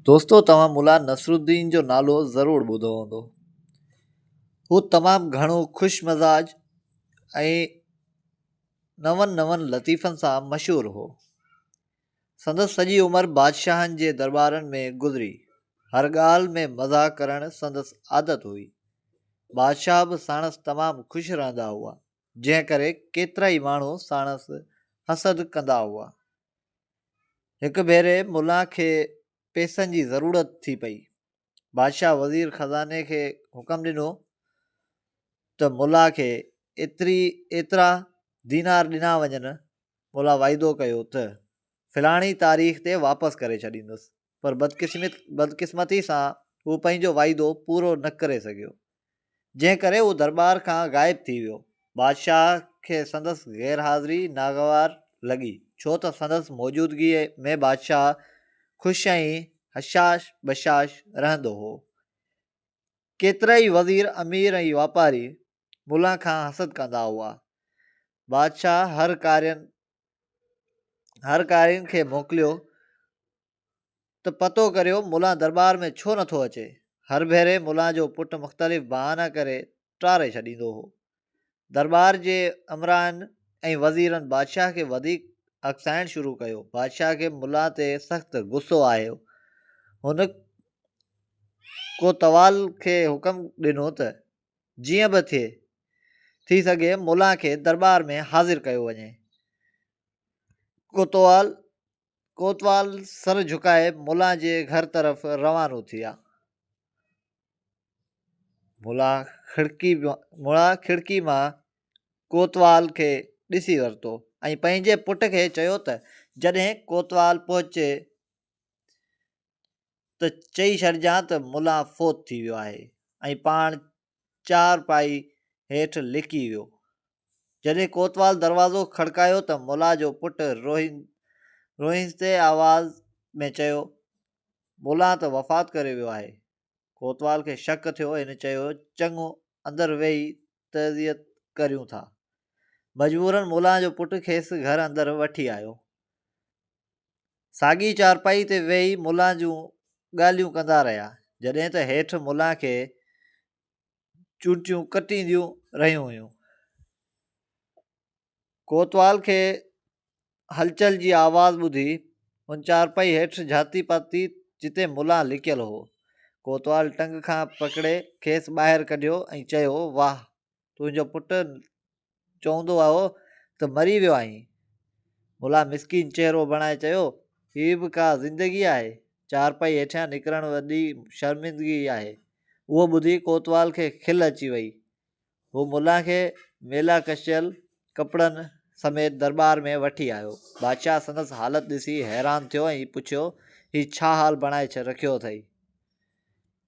دوستو توهان ملا نصرالدين جو نالو ضرور ٻڌو هوندو هو تمام گهڻو خوش مزاج ۽ نون نون لطيفن سان مشهور هو سندس سڄي عمر بادشاهن جي دربارن ۾ گذري هر ڳالهه ۾ مزاح ڪرڻ سندس عادت هئي بادشاهه به ساڻس تمام خوش رهندا هئا جنهن ڪري ڪيترا ئي ماڻهو ساڻس حسد ڪندا هئا هڪ ڀيري ملا کي پيسن جي ضرورت ٿي پئي. بادشاهه وزير خزاني کي حڪم ڏنو ته ملا کي ايتري ايترا دينار ڏنا وڃن. ملا واعدو ڪيو ته فلاڻي تاريخ تي واپس ڪري ڇڏيندس. پر بدقسمتي سان هو پنهنجو وعيدو پورو نه ڪري سگهيو، جنهن ڪري هو درٻار کان غائب ٿي ويو. بادشاهه کي سندس غير حاضري ناگوار لڳي، ڇو ته سندس موجودگيء ۾ بادشاهه خوش ۽ هشاش بشاش رهندو هو. ڪيترائي وزير، امير ۽ واپاري ملان کان حسد ڪندا هئا. بادشاهه هر ڪارين هر قارين کي موڪليو ته پتو ڪريو ملان درٻار ۾ ڇو نٿو اچي هر ڀيري ملان جو پٽ مختلف بهانا ڪري ٽاري ڇڏيندو هو درٻار جي امرائن ۽ وزيرن بادشاهه کي وڌيڪ اڪسائڻ شروع ڪيو بادشاهه کي ملا تي سخت غصو آيو هن ڪوتوال کي حڪم ڏنو ته جيئن به ٿئي، ٿي سگهي مولان کي درٻار ۾ حاضر ڪيو وڃي. ڪوتوال ڪوتوال سر جهڪائي مولان جي گهر طرف روانو ٿيا. مولان کڙڪي مولان کڙڪي مان ڪوتوال کي ڏسي ورتو ۽ پنهنجي پٽ کي چيو ته جڏهن ڪوتوال پهچي ته چئي ڇڏجان ته ملا فوت ٿي ويو آهي ۽ پاڻ چارپائي هيٺ لڪي ويو. جڏهن ڪوتوال دروازو کڙڪايو ته ملا جو پٽ روئيندي آواز ۾ چيو، ملا ته وفات ڪري ويو آهي. ڪوتوال کي شڪ ٿيو، هن چيو، چڱو اندر ويهي تعزيت ڪريون ٿا. مجبورن ملا جو پٽ کيس گهر اندر وٺي آيو. ساڳي چارپائي تي ويهي ملان جون ڳالهيون ڪندا رهيا جڏهن ته هيٺ ملان کي چونٽيون ڪٽينديون رهيون هيون. ڪوتوال کي هلچل جي آواز ٻڌي هن چارپائي هيٺ جهاتي پاتي جتي ملان لڪيل هو. ڪوتوال ٽنگ کان پڪڙي کيس ٻاهر ڪڍيو ۽ چيو واهه تنهنجو پٽ چوندو آهو ته مري ويو آهين. ملا مسڪين چهرو بڻائي چيو، هي به ڪا زندگي آهي؟ چارپائي هيٺيان نڪرڻ وڏي شرمندگي آهي. اهو ٻڌي ڪوتوال کي کل اچي وئي. هو ملا کي ميلا ڪشيل ڪپڙن سميت درٻار ۾ وٺي آيو. بادشاهه سندس حالت ڏسي حيران ٿيو ۽ پڇيو، هي ڇا حال بڻائي رکيو اٿئي؟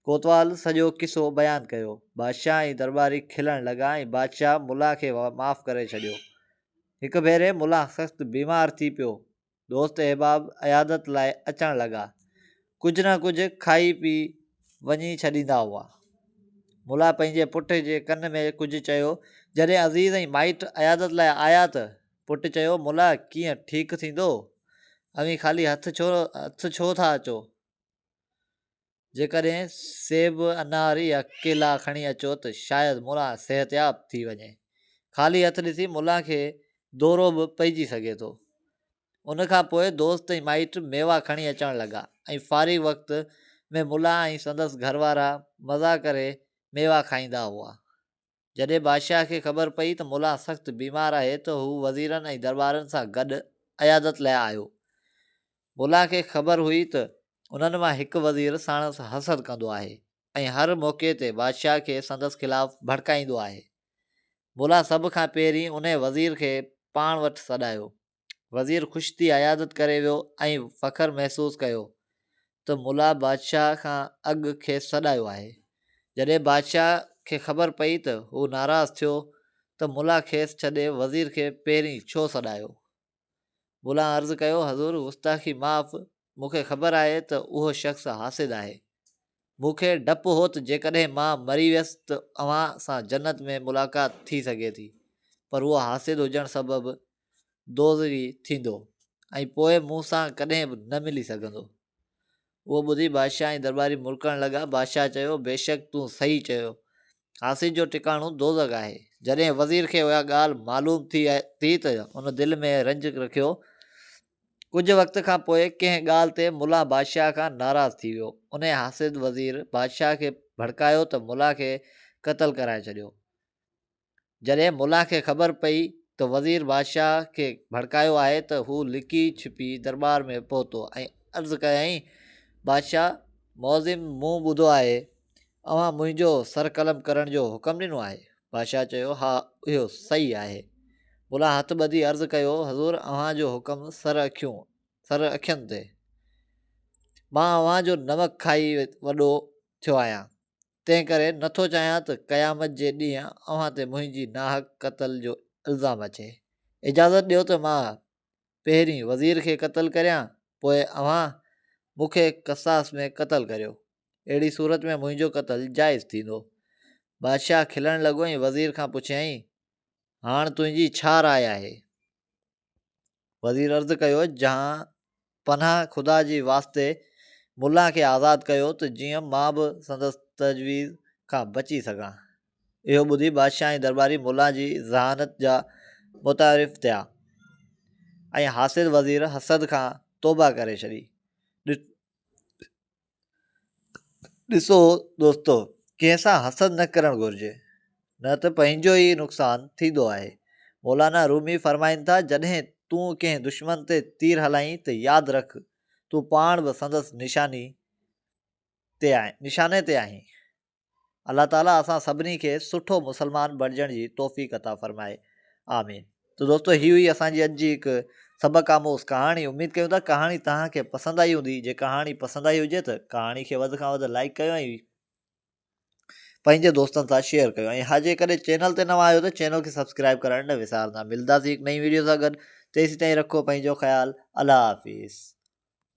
ڪوتوال سڄو قصو بيان ڪيو. بادشاهه ۽ درٻاري کلڻ لڳا ۽ بادشاهه ملا کي معاف ڪري ڇڏيو. هڪ ڀيري ملا سخت بيمار ٿي پيو. دوست احباب عيادت لاء اچڻ لڳا. ڪجهه نه ڪجهه کائي پي وڃي ڇڏيندا هئا. ملا پنهنجي پٽ جي ڪن ۾ ڪجهه چيو. جڏهن عزيز ۽ مائٽ عيادت لاء آيا ته پٽ چيو ملا ڪيئن ٺيڪ ٿيندو؟ اوهين خالي هٿ ڇو ٿا اچو؟ جيڪڏهن سيب، انار يا ڪيلا کڻي اچو ته شايد ملا صحتياب ٿي وڃي. خالي هٿ ڏسي ملا کي دورو به پئجي سگهي ٿو. ان کان پوء دوست ۽ مائٽ ميوا کڻي اچڻ لڳا ۽ فارغ وقت ۾ ملا ۽ سندس گهر وارا مزا ڪري ميوا کائيندا هئا. جڏهن بادشاهه کي خبر پئي ته مولان سخت بيمار آهي ته هو وزيرن ۽ دربارن سان گڏ عيادت لاء آيو. مولان کي خبر هئي ته انهن مان هڪ وزير ساڻس حسد ڪندو آهي ۽ هر موقعي تي بادشاهه کي سندس خلاف ڀڙڪائيندو آهي. مولان سڀ کان پهرين انهي وزير کي پاڻ وٽ سڏايو. وزير خوش ٿي عيادت ڪري ويو ۽ فخر محسوس ڪيو ته ملا بادشاهه کان اڳ کيس سڏايو آهي. جڏهن بادشاهه کي خبر پئي ته هو ناراض ٿيو ته ملا کيس ڇڏي وزير کي پهرين ڇو سڏايو. ملا عرض ڪيو حضور گستاخي معاف مون کي خبر آهي ته اهو شخص حاسد آهي. مون کي ڊپ هو ته جيڪڏهن مان مري ويس ته اوهان سان جنت ۾ ملاقات ٿي سگهي ٿي پر اهو حاسد هجڻ سبب دوزخي ٿيندو ۽ پوء مون سان ڪڏهن به نه ملي سگهندو. اهو ٻڌي بادشاهه ۽ درٻاري مرڪڻ لڳا. بادشاهه چيو، بيشڪ تون صحيح چيو. حاسد جو ٽڪاڻو دوزخ آهي. جڏهن وزير کي اها ڳالهه معلوم ٿي ٿي ته ان دل ۾ رنج رکيو. ڪجهه وقت کان پوء ڪنهن ڳالهه تي ملا بادشاهه کان ناراض ٿي ويو. انهي حاسد وزير بادشاهه کي ڀڙڪايو ته ملا کي قتل ڪرائي ڇڏيو. جڏهن ملا کي خبر پئي ته وزير بادشاهه کي ڀڙڪايو آهي ته هو لڪي ڇپي درٻار ۾ پهتو ۽ عرض ڪيائين بادشاهه معظم مون ٻڌو آهي اوهان منهنجو سر قلم ڪرڻ جو حڪم ڏنو آهي؟ بادشاهه چيو، ها اهو صحيح آهي. ملا هٿ ٻڌي عرض ڪيو، حضور اوهان جو حڪم سر اکيون، سر اکين تي. مان اوهان جو نمڪ کائي وڏو ٿيو آهيان، تنهن ڪري نه ٿو چاهيان ته قيامت جي ڏينهن اوهان تي منهنجي ناحق قتل جو الزام اچي. اجازت ڏيو ته مان پهرين وزير کي قتل ڪريان پوء اوهان مون کي قصاص ۾ قتل ڪريو اهڙي صورت ۾ منهنجو قتل جائز ٿيندو. بادشاهه کلڻ لڳو ۽ وزير کان پڇيائين هاڻ تنهنجي ڇا راء آهي؟ وزير عرض ڪيو جهان پناهه خدا جي واسطي ملان کي آزاد ڪيو ته جيئن مان به سندس تجويز کان بچي سگهان. اهو ٻڌي بادشاهه ۽ درٻاري ملان جي ذهانت جا متعارف ٿيا ۽ حاسد وزير حسد کان توبهه ڪري ڇڏي. ڏسو دوستو ڪنهن سان حسد نه ڪرڻ گهرجي نه ته پنهنجو ئي نقصان ٿيندو آهي مولانا رومي فرمائن ٿا جڏهن تون ڪنهن دشمن تي تير هلائين ته ياد رک تون پاڻ به سندس نشاني تي آهين نشاني تي آهين الله تعالي اسان سڀني کي سٺو مسلمان بڻجڻ جي توفيق عطا فرمائي آمين تو دوستو هي هئي اسان جي اڄ جي هڪ سبق آموز ڪهاڻي اميد ڪيون ٿا ڪهاڻي توهان کي پسند آئي هوندي جي ڪهاڻي پسند آئي هجي ته ڪهاڻي کي وڌ کان وڌ لائڪ ڪيو ۽ پنهنجي دوستن سان شيئر ڪيو ۽ ها جيڪڏهن چينل تي نوان آهيو ته چينل کي سبسڪرائب ڪرڻ نه وسارندا ملداسي هڪ نئين ويڊيو سان گڏ تيسين تائين رکو پنهنجو خيال الله حافظ